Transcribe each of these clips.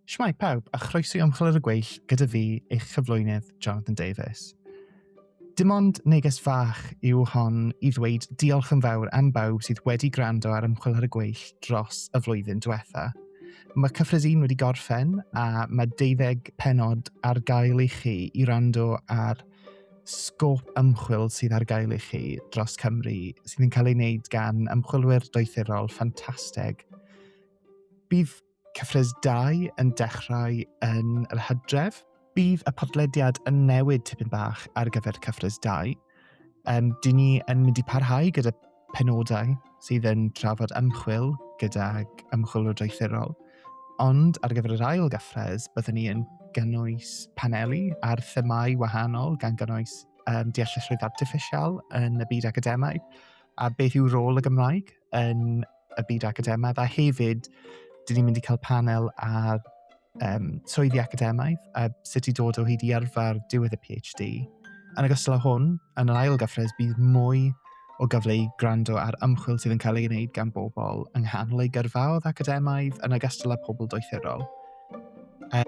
Shmai pawb a chroeso i Ymchwil ar y Gweill gyda fi, eich cyflwynydd, Jonathan Davies. Dim ond neges fach yw hon i ddweud diolch yn fawr am bawb sydd wedi gwrando ar Ymchwil ar y Gweill dros y flwyddyn diwetha. Mae cyfres un wedi gorffen a mae deuddeg penod ar gael i chi i rando ar sgôp ymchwil sydd ar gael i chi dros Cymru sydd yn cael ei wneud gan ymchwilwyr doethurol ffantastig Bydd cyfres 2 yn dechrau yn yr hydref. Bydd y podlediad yn newid tipyn bach ar gyfer cyfres 2. Um, Dyn ni yn mynd i parhau gyda penodau sydd yn trafod ymchwil gydag ymchwilwr doethurol. Ond ar gyfer yr ail gyffres, byddwn ni yn gynnwys paneli ar themau wahanol gan gynnwys um, deallusrwydd artiffisial yn y byd academaidd a beth yw rôl y Gymraeg yn y byd academaidd a hefyd dyn ni'n mynd i cael panel ar um, swyddi academaidd a sut i dod o hyd i arfer diwedd y PhD. Yn ogystal â hwn, yn yr ail gyffres bydd mwy o gyfle i gwrando ar ymchwil sydd yn cael ei wneud gan bobl yng nghanol ei gyrfaodd academaidd yn ogystal â pobl doethurol. A,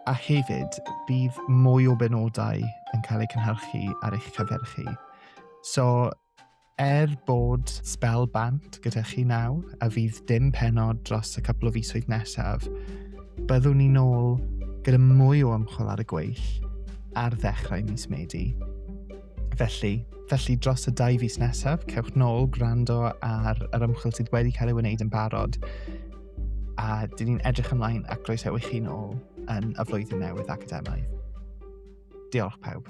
a hefyd, bydd mwy o benodau yn cael eu cynhyrchu ar eich cyfer chi. So, Er bod spel bant gyda chi nawr a fydd dim penod dros y cwpl o fisoedd nesaf, byddwn ni'n ôl gyda mwy o ymchwil ar y gweill ar ddechrau mis Medi. Felly, felly dros y dau fus nesaf, cewch nôl gwrando ar yr ymchwil sydd wedi cael ei wneud yn barod a dyn ni'n edrych ymlaen ac groesawu chi'n ôl yn y flwyddyn newydd academaidd. Diolch pawb.